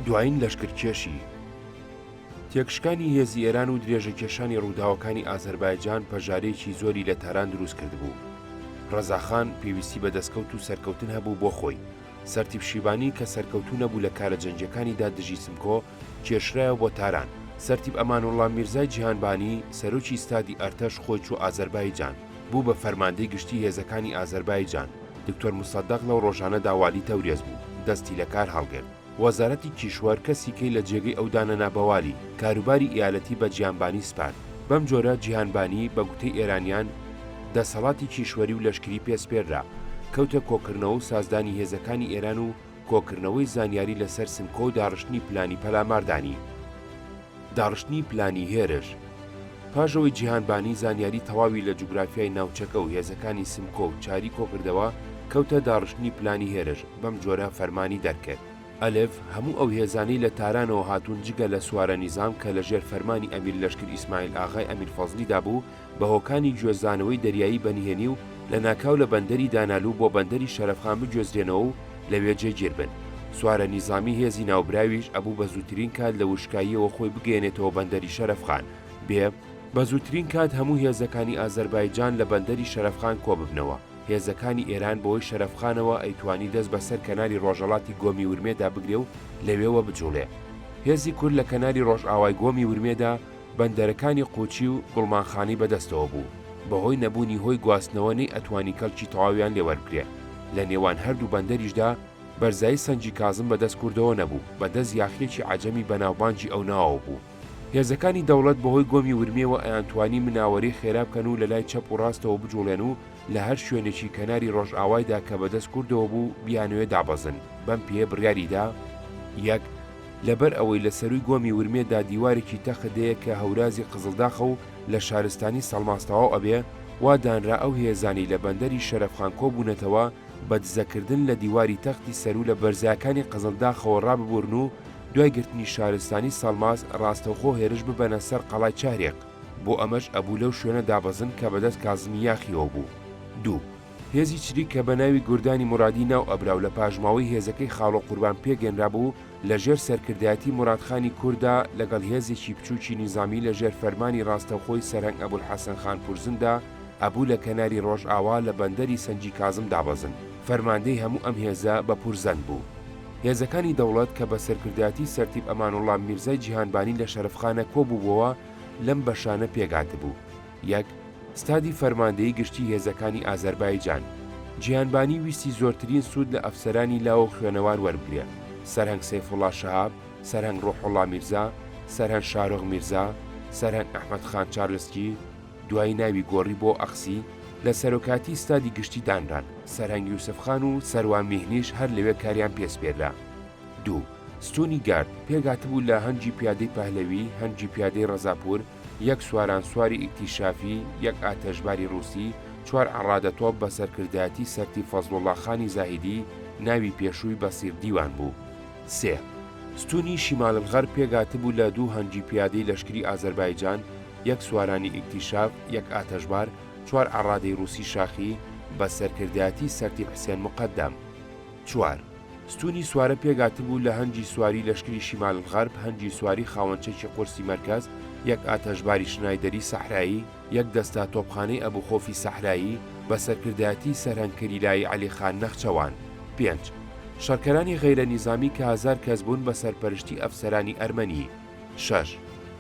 دوایین لەشکرکێشی تێکشکانی هێزی ئێران و درێژەکێشانی ڕووداوەکانی ئازەربایجان پەژارەیەکی زۆری لە تاران دروست کردبوو. ڕەزاخان پێویستی بە دەستکەوت و سەرکەوتن هەبوو بۆ خۆی. سەرتیپ شیبانی کە سەرکەوتوو نەبوو لە کارە جەنگیەکانیدا دژی سمکۆ، کێشرایەوە بۆ تاران. سەرتیپ ئەمانوڵڵا میرزای جیهانبانی، سەرۆکی ستادی ئەرتەش خۆی چووە ئازەربایجان. بوو بە فەرماندەی گشتی هێزەکانی ئازەربایجان، دکتۆر موسەدەق لەو ڕۆژانەدا والی تەورێز بوو، دەستی لە کار هەڵگرت. وەزارەتی کیشوەر کەسی کەی لە جێگەی ئەو دانەنا بە والی، کاروباری ئیالەتی بە جیانبانی سپارد. بەم جۆرە جیهانبانی، بە گوتەی ئێرانیان، دەسەڵاتی کیشوەری و لەشکری پێ سپێررا، کەوتە کۆکردنەوە و سازدانی هێزەکانی ئێران و، کۆکردنەوەی زانیاری لەسەر سمکۆ و داڕشتنی پلانی پەلاماردانی. داڕشتنی پلانی هێرش. پاش ئەوەی جیهانبانی زانیاری تەواوی لە جوگرافیای ناوچەکە و هێزەکانی سمکۆ و چاری کۆکردەوە، کەوتە داڕشتنی پلانی هێرش، بەم جۆرە فەرمانی دەرکرد. ئەلف، هەموو ئەو هێزانەی لە تارانەوە هاتوون جگە لە سوارە نیزام کە لەژێر فەرمانی ئەمیر لەشکر ئیسماعیل ئاغای ئەمیر فەزلیدا بوو، بە هۆکانی گوێزانەوەی دەریایی بەنهێنی و لەناکاو لە بەندەری دانالو بۆ بەندەری شەرەفخان بگوێزرێنەوە و لەوێ جێگیر بن. سوارە نیزامی هێزی ناوبراویش ئەبوو بە زووترین کات لە وشکاییەوە خۆی بگەیەنێتەوە بەندەری شەرەفخان، بێ، بە زووترین کات هەموو هێزەکانی ئازەربایجان لە بەندەری شەرەفخان کۆ ببنەوە، هێزەکانی ئێران بەوەی شەرەفخانەوە ئەیتوانی دەست بە سەر کەناری ڕۆژەڵاتی گۆمی ورمێدا بگرێ و لەوێوە بجووڵێ. هێزی کورد لە کەناری ڕۆژئاوای گۆمی ورمێدا، بەندەرەکانی قوچی و گوڵمانخانی بەدەستەوە بوو، بەهۆی نەبوونی هۆی گواستنەوە نەیئەتوانی کەڵکی تەواویان لێ وەربگرێ، لە نێوان هەردوو بەندەریشدا بەرزایی سەنگی کازم بەدەست کوردەوە نەبوو، بەدەست یاخییەکی عەجەمی بەناوبانگی ئەو ناوەوە بوو. هێزەکانی دەوڵەت بەهۆی گۆمی ورمێوە ئەیانتوانی مناوەری خێرا بکەن و لەلای چەپ و ڕاستەوە بجوڵێن و لە هەر شوێنێکی کەناری ڕۆژئاوایدا کە بەدەست کوردەوە بوو بیانەوێ دابەزن، بەم پێیە بڕیاریدا، یەک، لەبەر ئەوەی لە سەرووی گۆمی ورمێ دا دیوارێکی تەخت هەیە کە هەورازی قزڵداخە و لە شارستانی سەڵماس تەواو ئەبێ، وا دانرا ئەو هێزانەی لە بەندەری شەرەفخان کۆ بوونەتەوە بە دزە کردن لە دیواری تەختی سەروو لە بەرزایەکانی قزڵداخەوە ڕاببورن و دوای گرتنی شارستانی سەڵماس ڕاستەوخۆ هێرش ببەنە سەر قەڵای چهرێق. بۆ ئەمەش ئەبوو لەو شوێنە دابەزن کە بە دەست کازمی یاخییەوە بوو. دوو. هێزی چریک کە بە ناوی گوردانی مورادی ناو ئەبرا و لە پاشماوەی هێزەکەی خاڵۆ قوربان پێگەنرابوو، لە ژێر سەرکردایەتی موراد خانی کوردا لەگەڵ هێزێکی بچووکی نیزامی لە ژێر فەرمانی ڕاستەوخۆی سەرهەنگ ئەبولحەسەن خان پورزندا ئەبوو لە کەناری ڕۆژئاوا لە بەندەری سەنگی کازم دابەزن. فەرماندەی هەموو ئەم هێزە بە پورزەن بوو. هێزەکانی دەوڵەت کە بە سەرکردایەتی سەرتیپ ئەمانوڵڵا میرزای جیهانبانی لە شەرەفخانە کۆبووبۆوە لەم بەشانە پێکهاتبوو. یەک، ستادی فەرماندەیی گشتی هێزەکانی ئازەربایجان، جیهانبانی ویستی زۆرترین سوود لە ئەفسەرانی لاو و خوێنەوار وەربگرێ، سەرهەنگ سەیفوڵا شەهاب، سەرهەنگ ڕوحوڵا میرزا، سەرهەنگ شارۆغ میرزا، سەرهەنگ ئەحمەد خان چارلسکی، دوایی ناوی گۆڕی بۆ ئەخسی، لە سەرۆکاتی ستادی گشتی دانران، سەرهەنگ یوسف خان و سەروان میهنیش هەر لەوێ کاریان پێ سپێررا. دوو، ستوونی گارد، پێکهاتبوو لە هەنگی پیادەی پەهلەوی، هەنگی پیادەی ڕەزاپوور، یەک سوارانسواری ئیکتیشافی، یەک ئاتەشباری ڕووسی، چوار عەڕادە تۆپ بە سەرکردایەتی سەرتیپ فەزڵوڵاخانی زاهیدی، ناوی پێشووی بەسیر دیوان بوو. سێ. ستوونی شیماللغەرب پێکهاتبوو لە دوو هەنگی پیادەی لەشکری ئازەربایجان، یەک سوارانی ئیکتیشاف، یەک ئاتەشبار، چوار عەڕادەی ڕووسی شاخی، بە سەرکردایەتی سەرتیپ حسێن موقەدەم. چوار، ستوونی سوارە پێکهاتبوو لە هەنگی سواری لەشکری شیمال غەرب، هەنگی سواری خاوەن چەکی قورسی مەرکەز، یەک ئاتەشباری شنایدەری سەحرایی، یەک دەستە تۆپخانەی ئەبو خۆفی سەحرایی، بە سەرکردایەتیی سەرهەنگ کریلایی عەلی خان نەخچەوان. پێنج، شەڕکەرانی غەیرە نیزامی کە هەزار کەس بوون بە سەرپەرشتی ئەفسەرانی ئەرمەنی. شەش،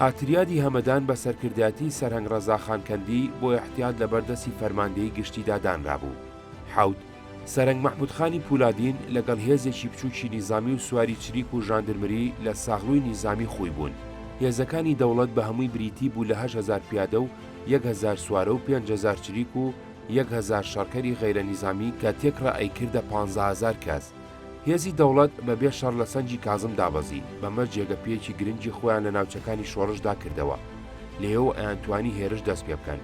ئاتریادی هەمەدان بە سەرکردایەتیی سەرهەنگ ڕەزا خان کەندی بۆ ئیحتیات لەبەر دەستی فەرماندەیی گشتیدا دانرابوو. حەوت، سەرەنگ مەحمودخانی پولادین لەگەڵ هێزێکی بچووکی نیزامی و سواری چریک و ژاندرمری لە ساغلووی نیزامی خووی بوون. هێزەکانی دەوڵەت بە هەمووی بریتی بوو لە هەشت هەزار پیادە و یەک هەزار سوارە و پێنج هەزار چریک و یەک هەزار شەڕکەری غەیرە نیزامی کە تێکڕا ئەیکردە پانزە هەزار کەس. هێزی دەوڵەت بە بێ شەڕ لە سەنگی کازم دابەزی، بەمەش جێگە پێیەکی گرنگی خۆیان لە ناوچەکانی شۆڕشدا کردەوە. لێیەوە ئەیانتوانی هێرش دەست پێ بکەن.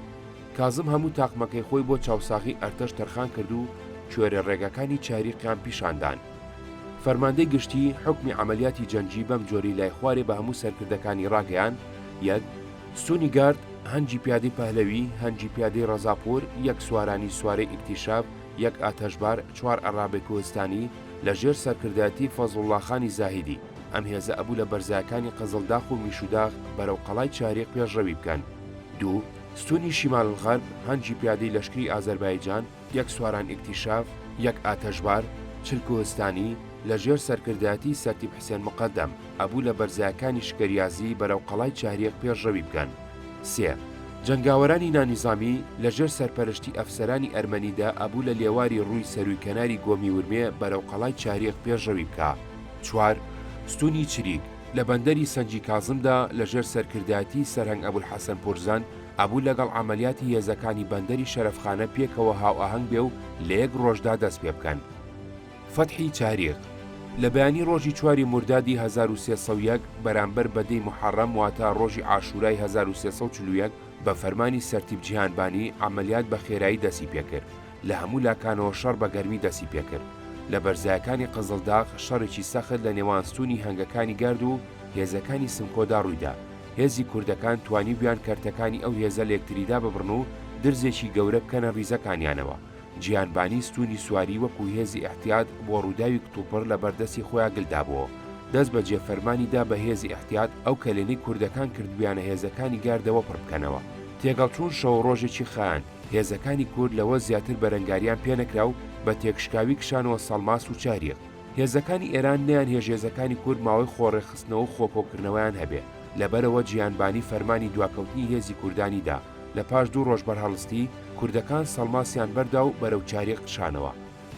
کازم هەموو تاقمەکەی خۆی بۆ چاوساغی ئەرتەش تەرخان کرد و کوێرە ڕێگاکانی چاریقیان پیشان دان. فەرماندەی گشتی حوکمی عەمەلیاتی جەنگی بەم جۆری لای خوارێ بە هەموو سەرکردەکانی ڕاگەیاند، یەک، ستوونی گارد، هەنگی پیادەی پەهلەوی، هەنگی پیادەی ڕەزاپوور، یەک سوارانی سوارەی ئیکتیشاف، یەک ئاتەشبار، چوار ئەڕابەی کوهستانی، لە ژێر سەرکردایەتی فەزڵوڵاخانی زاهیدی، ئەم هێزە ئەبوو لە بەرزایەکانی قزڵداخ و میشوداخ بەرەو قەڵای چاریق پێشڕەوی بکەن. دوو. ستونی شیمال غەرب هەنگی پیادەی لەشکری ئازەربایجان، یەک سواران ئیکتیشاف، یەک ئاتەشبار، چل کوهستانی، لە ژێر سەرکردایەتی سەرتیپ حسێن مقەدەم، ئەبوو لە بەرزایەکانی شکەریازی بەرەو قەڵای چهریەک پێشڕەوی بکەن. سێ. جەنگاوەرانی نانیزامی، لە ژێر سەرپەرشتی ئەفسەرانی ئەرمەنیدا ئەبوو لە لێواری ڕووی سەرووی کەناری گۆمی ورمێ بەرەو قەڵای چهریەک پێشڕەوی بکا. چوار. ستونی چریک، لە بەندەری سەنجی کازمدا لە ژێر سەرکردایەتی سەرهەنگ ئەبولحەسەن پورزەن ئەبوو لەگەڵ عەمەلیاتی هێزەکانی بەندەری شەرەفخانە پێکەوە هاوئاهەنگ بێ و لە یەک ڕۆژدا دەست پێ بکەن. فەتحی چاریق لە بەیانی ڕۆژی چواری موردادی هەزار و سێ سەد و یەک بەرامبەر بە دەی موحەڕەم واتە ڕۆژی عاشورای هەزار و سێ سەد و چل و یەک بە فەرمانی سەرتیپ جیهان بانی عەمەلیات بە خێرایی دەستی پێ کرد لە هەموو لاکانەوە شەڕ بە گەرمی دەستی پێکرد. لە بەرزایەکانی قزڵداغ شەڕێکی سەخت لە نێوان ستوونی هەنگەکانی گرد و هێزەکانی سمکۆدا ڕوویدا. هێزی کوردەکان توانیبویان کەرتەکانی ئەو هێزە لە یەکتری داببڕن و درزێکی گەورە بکەنە ڕیزەکانیانەوە. جیهانبانی ستوونی سواری وەکوو هێزی ئیحتیات بۆ ڕووداوی کتوپڕ لە بەر دەستی خۆیان گل دابۆوە. دەست بە جێ فەرمانی دا بە هێزی ئیحتیات ئەو کەلێنەی کوردەکان کردبویانە هێزەکانی گردەوە پڕ بکەنەوە. تێکەڵچوون شەووڕۆژێکی خایاند. هێزەکانی کورد لەوە زیاتر بەرەنگاریان پێنەکرا و بە تێکشکاوی کشانەوە سەڵماس و چاریەک. هێزەکانی ئێران نەیانهێشت هێزەکانی کورد ماوەی خۆڕێکخستنەوە و خۆکۆکردنەوەیان هەبێ. لەبەرئەوە جیهانبانی فەرمانی دواکەوتنی هێزی کوردانی دا. لە پاش دوو ڕۆژ بەرهەڵستی، کوردەکان سەڵماسیان بەردا و بەرەو چاریەک کشانەوە.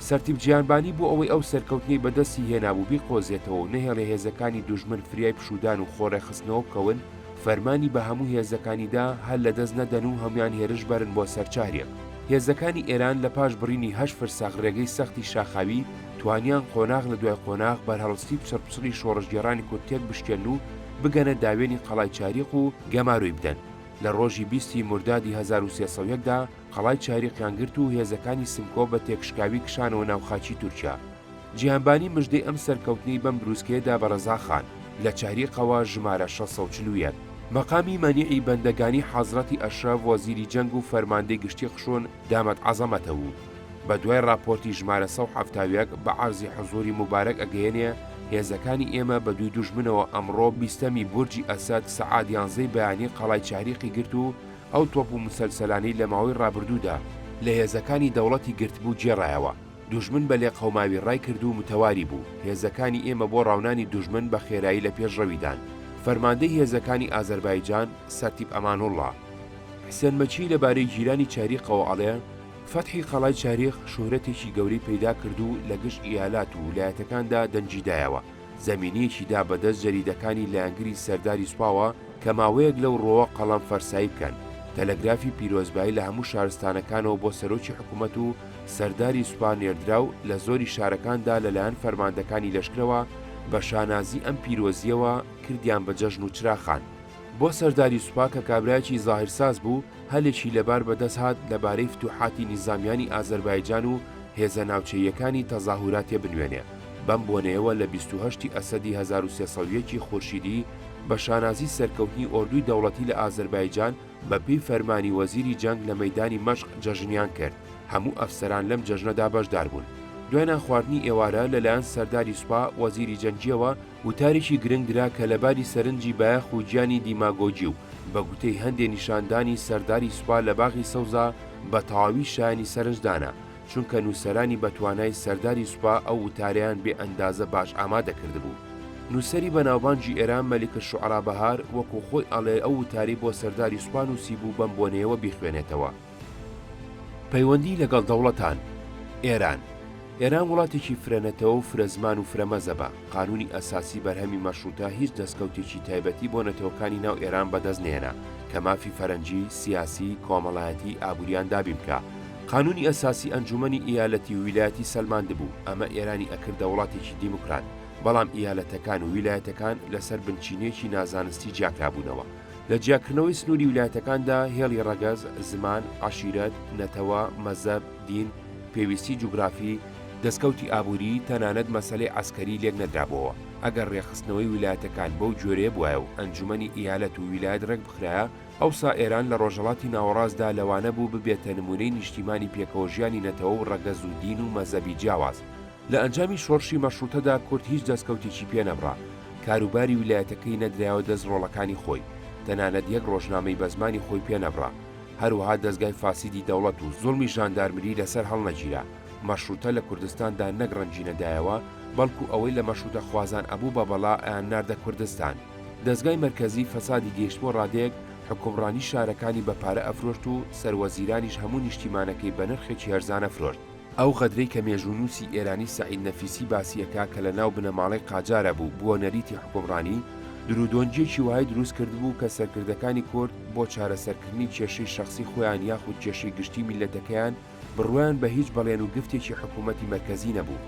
سەرتیپ جیهانبانی بۆ ئەوەی ئەو سەرکەوتنەی بەدەستی هێنابوو بیقۆزێتەوە و نەهێڵێ هێزەکانی دوژمن فریای پشوودان و خۆڕێکخستنەوە بکەون، فەرمانی بە هەموو هێزەکانی دا هەل لە دەست نەدەن و هەموان هێرش بەرن بۆ سەر چاهریەک. هێزەکانی ئێران لە پاش بڕینی هەشت فرسەخ ڕێگەی سەختی شاخاوی، توانیان قۆناغ لە دوای قۆناغ بەرهەڵستی پچڕپچڕی شۆڕشگێڕانی کورد تێک بشکێنن و بگەنە داوێنی قەڵای چاهریق و گەمارۆی بدەن. لە ڕۆژی بیست ی مردادی هەزار و سێ سەد و یەک دا، قەڵای چاریقیان گرت و هێزەکانی سمکۆ بە تێکشکاوی کشانەوە ناو خاکی تورکیا. جیهانبانی مژدەی ئەم سەرکەوتنەی بەم بروسکەیە دا بە رەزاخان، لە چاریقەوە، ژمارە شەش سەد و چل و یەک. مەقامی مەنیعی بەندەگانی حەزرەتی ئەشرەف وەزیری جەنگ و فەرماندەی گشتی خشون دامت عظمته و بە دوای راپۆرتی ژمارە سەد و حەفتا و یەک بە عەرزی حزوری موبارەک ئەگەیەنێ هێزەکانی ئێمە بە دووی دوژمنەوە ئەمڕۆ بیستەمی بورجی ئەسەد سەعات یانزەی بەیانی قەڵای چاریقی گرت و ئەو تۆپ و مسەلسەلانەی لە ماوەی ڕابردوودا لە هێزەکانی دەوڵەتی گرتبوو گێڕایەوە، دوژمن بە لێقەوماوی ڕای کرد و متەواری بوو، هێزەکانی ئێمە بۆ ڕاونانی دوژمن بە خێرایی لە پێشڕەویدان. فەرماندەی هێزەکانی ئازەربایجان، سەرتیپ ئەمانوڵڵا حسێن مەکی لە بارەی گیرانی چاریقەوە ئەڵێ، فەتحی قەڵای چاریق شوهرەتێکی گەورەی پەیدا کرد و لە گشت ئیالات و ولایەتەکاندا دەنگی دایەوە. زەمینەیەکی دا بە دەست جەریدەکانی لایەنگری سەرداری سوپاوە کە ماوەیەک لەو ڕۆوە قەڵەم فەرسایی بکەن. تەلەگرافی پیرۆزبایی لە هەموو شارستانەکانەوە بۆ سەرۆکی حکوومەت و سەرداری سوپا نێردرا و لە زۆری شارەکان دا لە لایەن فەرماندەکانی لەشکرەوە بە شانازی ئەم پیرۆزییەوە کردیان بە جەژن و چراخان بۆ سەرداری سوپا کە کابرایەکی زاهیرساز بوو هەلێکی لەبار بەدەست هات لەبارەی فتوحاتی نیزامیانی ئازەربایجان و هێزە ناوچەییەکانی تەزاهوراتێ بنوێنێ، بەم بۆنەیەوە لە بیست و هەشت ی ئەسەدی هەزار و سێ سەد و یەک ی خورشیدی بە شانازی سەرکەوتنی ئۆردووی دەوڵەتی لە ئازەربایجان بە پێی فەرمانی وەزیری جەنگ لە مەیدانی مەشق جەژنیان کرد، هەموو ئەفسەران لەم جەژنەدا بەشدار بوون. دوای نانخواردنی ئێوارە لە لایەن سەرداری سوپا وەزیری جەنگیەوە، وتاریکی گرنگ درا کە لەباری سەرنجی بایەخ و گیانی دیماگۆگی و بە گوتەی هەندێ نیشاندانی سەرداری سوپا لە باغی سەوزا بە تەواوی شایانی سەرنجدانە، چونکە نووسەرانی بەتوانای سەرداری سوپا ئەو وتارەیان بێ ئەندازە باش ئامادە کردبوو. نووسەری بەناوبانگی ئێران مەلیکەشوعرا بەهار وەکوو خۆی ئەڵێ ئەو وتارەی بۆ سەرداری سوپا نووسیبوو بەم بۆنەیەوە بیخوێنێتەوە. پەیوەندی لەگەڵ دەوڵەتان، ئێران ئێران وڵاتێکی فرە نەتەوە و فرە زمان و فرە مەزەبە، قانوونی ئەساسی بەرهەمی مەشرووتە هیچ دەسکەوتێکی تایبەتی بۆ نەتەوەکانی ناو ئێران بەدەست نەیەنا کە مافی فەرەنجی، سیاسی، کۆمەڵایەتی، ئابووریان دابین بکا. قانوونی ئەساسی ئەنجوومەنی ئیالەتی و ویلایەتی سەلماندبوو، ئەمە ئێرانی ئەکردە وڵاتێکی دیموکرات، بەڵام ئیالەتەکان و ویلایەتەکان لەسەر بنچینەیەکی نازانستی جیاکرابوونەوە. لە جیاکردنەوەی سنووری ویلایەتەکاندا هێڵی ڕەگەز، زمان، عەشیرەت، نەتەوە، مەزەب، دین، پێویستی جوگرافی، دەسکەوتی ئابووری، تەنانەت مەسەلەی عەسکەری لێک نەدرابۆوە، ئەگەر ڕێکخستنەوەی ویلایەتەکان بەو جۆرەیە بوایە و ئەنجومەنی ئیالەت و ویلایەت ڕێک بخرایە، ئەوسا ئێران لە ڕۆژهەڵاتی ناوەڕاستدا لەوانە بوو ببێتە نموونەی نیشتیمانی پێکەوەژیانی نەتەوە و ڕەگەز و دین و مەزەبی جیاواز، لە ئەنجامی شۆڕشی مەشڕووتەدا کورد هیچ دەستکەوتێکی پێ نەبڕا، کاروباری ویلایەتەکەی نەدرایەوە دەست ڕۆڵەکانی خۆی، تەنانەت یەک ڕۆژنامەی بە زمانی خۆی پێ نەبڕا، هەروەها دەزگای فاسیدی دەوڵەت و زوڵمی ژاندارمری لەسەر هەڵنەگیرا، مەشڕووتە لە کوردستاندا نەک ڕەنگی نەدایەوە، بەڵکوو ئەوەی لە مەشڕووتەخوازان ئەبوو بە بەڵا ئەیانناردە کوردستان. دەزگای مەرکەزی فەسادی گەیشتبووە ڕادەیەک حوکمڕانی شارەکانی بە پارە ئەفرۆشت و سەروەزیرانیش هەموو نیشتیمانەکەی بە نرخێکی هەرزان ئەفرۆشت، ئەو غەدرەی کە مێژوونووسی ئێرانی سەعید نەفیسی باسی ئەکا کە لە ناو بنەماڵەی قاجارە بوو بووە نەریتی حوکمڕانی، درودۆنگیەکی وای دروست کردبوو کە سەرکردەکانی کورد بۆ چارەسەرکردنی کێشەی شەخسی خۆیان یاخود کێشەی گشتی میللەتەکەیان بڕوایان بە هیچ بەڵێن و گفتێکی حکوومەتی مەرکەزی نەبوو.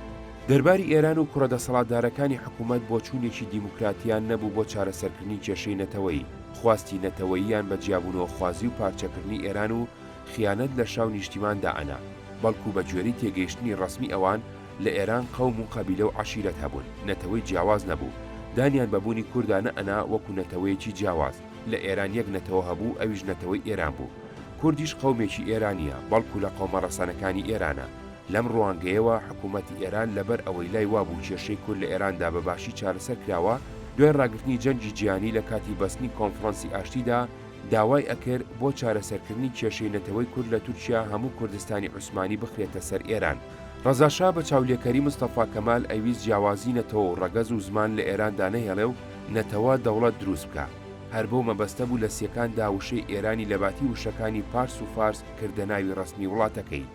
دەرباری ئێران و کوڕە دەسەڵاتدارەکانی حکوومەت بۆچوونێکی دیموکراتیان نەبوو بۆ چارەسەرکردنی کێشەی نەتەوەیی، خواستی نەتەوەییان بە جیابوونەوەخوازی و پارچەکردنی ئێران و، خیانەت لە شا و نیشتیمان دا ئەنا، بەڵکوو بە گوێرەی تێگەیشتنی ڕەسمی ئەوان، لە ئێران قەوم و قەبیلە و عەشیرەت هەبوون، نەتەوەی جیاواز نەبوو، دانیان بە بوونی کوردا نە ئەنا وەکوو نەتەوەیەکی جیاواز، لە ئێران یەک نەتەوە هەبوو ئەویش نەتەوەی ئێران بوو. کوردیش قەومێکی ئێرانییە، بەڵکوو لە قەومە ڕەسەنەکانی ئێرانە. لەم ڕوانگەیەوە حکوومەتی ئێران لە بەر ئەوەی لای وا بوو کێشەی کورد لە ئێران دا بە باشی چارەسەر کراوە، دوای ڕاگرتنی جەنگی جیهانی لە کاتی بەستنی کۆنفڕانسی ئاشتی دا، داوای ئەکرد بۆ چارەسەرکردنی کێشەی نەتەوەی کورد لە تورکیا هەموو کوردستانی عوسمانی بخرێتە سەر ئێران. ڕەزا شا بە چاولێکەری مستەفا کەمال ئەیویست جیاوازی نەتەوە و ڕەگەز و زمان لە ئێران دانەهێڵێ و نەتەوە دەوڵەت دروست بکا. هەر بەو مەبەستە بوو لە سیەکان دا وشەی ئێرانی لە باتی وشەکانی پارس و فارس کردە ناوی ڕەسمی وڵاتەکەی.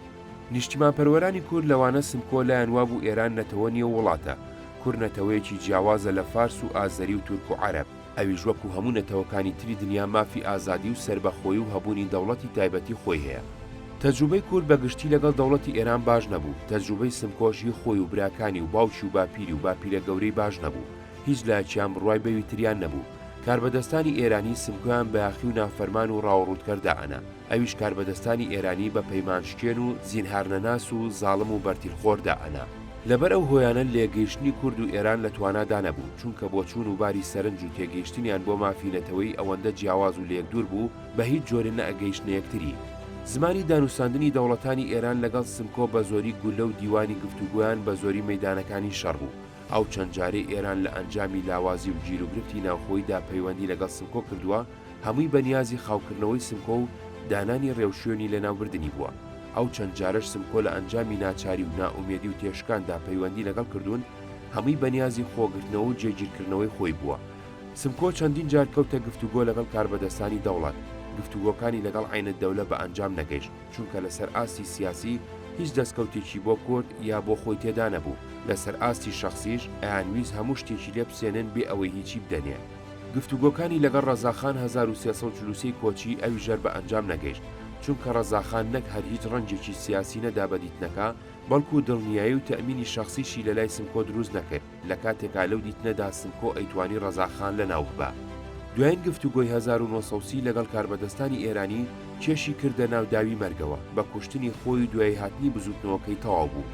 نیشتیمانپەروەرانی کورد لەوانە سمکۆ لایان وا بوو ئێران نەتەوە نیە و وڵاتە. کورد نەتەوەیەکی جیاوازە لە فارس و ئازەری و تورک و عەرەب. ئەویش وەکو هەموو نەتەوەکانی تری دنیا مافی ئازادی و سەربەخۆی و هەبوونی دەوڵەتی تایبەتی خۆی هەیە. تەجروبەی کورد بە گشتی لەگەڵ دەوڵەتی ئێران باش نەبوو، تەجروبەی سمکۆش هی خۆی و براکانی و باوکی و باپیری و باپیرە گەورەی باش نەبوو، هیچ لایەکیان بڕوای بەوی تریان نەبوو، کاربەدەستانی ئێرانی سمکۆیان بایەخی و نافەرمان و ڕاوەڕووتکەر دائەنا، ئەویش کاربەدەستانی ئێرانی بە پەیمانشکێن و زینهارنەناس و زاڵم و بەرتیلخۆر دا ئەنا. لەبەر ئەو هۆیانە لێکگەیشتنی کورد و ئێران لە توانا دا نەبوو، چونکە بۆچوون و باری سەرنج و تێگەیشتنیان بۆ مافی نەتەوەیی ئەوەندە جیاواز و لێکدوور بوو، بە هیچ جۆرێ نەئەگەیشتنە یەکتری. زمانی دانووساندنی دەوڵەتانی ئێران لەگەڵ سمکۆ بە زۆری گوللە و دیوانی گفتوگۆیان بە زۆری مەیدانەکانی شەڕ بوو. ئەو چەند جارەی ئێران لە ئەنجامی لاوازی و گیروگرفتی ناوخۆیی دا پەیوەندی لەگەڵ سمکۆ کردووە، هەمووی بە نیازی خاوکردنەوەی سمکۆ و دانانی رێوشوێنی لەناوبردنی بووە، ئەو چەند جارەش سمکۆ لە ئەنجامی ناچاری و نائومێدی و تێشکاندا پەیوەندی لەگەڵ کردوون، هەمووی بە نیازی خۆگرتنەوە و جێگیرکردنەوەی خۆی بووە. سمکۆ چەندین جار کەوتە گفتوگۆ لەگەڵ کاربەدەستانی دەوڵەت، گفتوگۆکانی لەگەڵ عەینەددەولە بە ئەنجام نەگەیشت، چونکە لەسەر ئاستی سیاسی هیچ دەستکەوتێکی بۆ کورد یا بۆ خۆی تێدانەبوو، لەسەر ئاستی شەخسیش ئەیانویست هەموو شتێکی لێ بسێنن بێ ئەوەی هیچی بدەنێ. گفتوگۆکانی لەگەڵ ڕەزاخان هەزار و سێ سەد و چل و سێ کۆچی ئەوی ژەر بە ئەنجام نەگەیشت، چونکە ڕەزاخان نەک هەر هیچ ڕەنجێکی سیاسی نەدا بە دیتنەکە، بەڵکوو دڵنیایی و تەئمینی شەخسیشی لە لای سمکۆ دروست نەکرد، لە کاتێکا لەو دیتنەدا سمکۆ ئەیتوانی ڕەزاخان لە ناو ببا. دوایین گفتوگۆی هەزار و نۆ سەد و سی لەگەڵ کاربەدەستانی ئێرانی کێشی کردە ناو داوی مەرگەوە، بە کوشتنی خۆی و دوای هاتنی بزووتنەوەکەی تەواو بوو.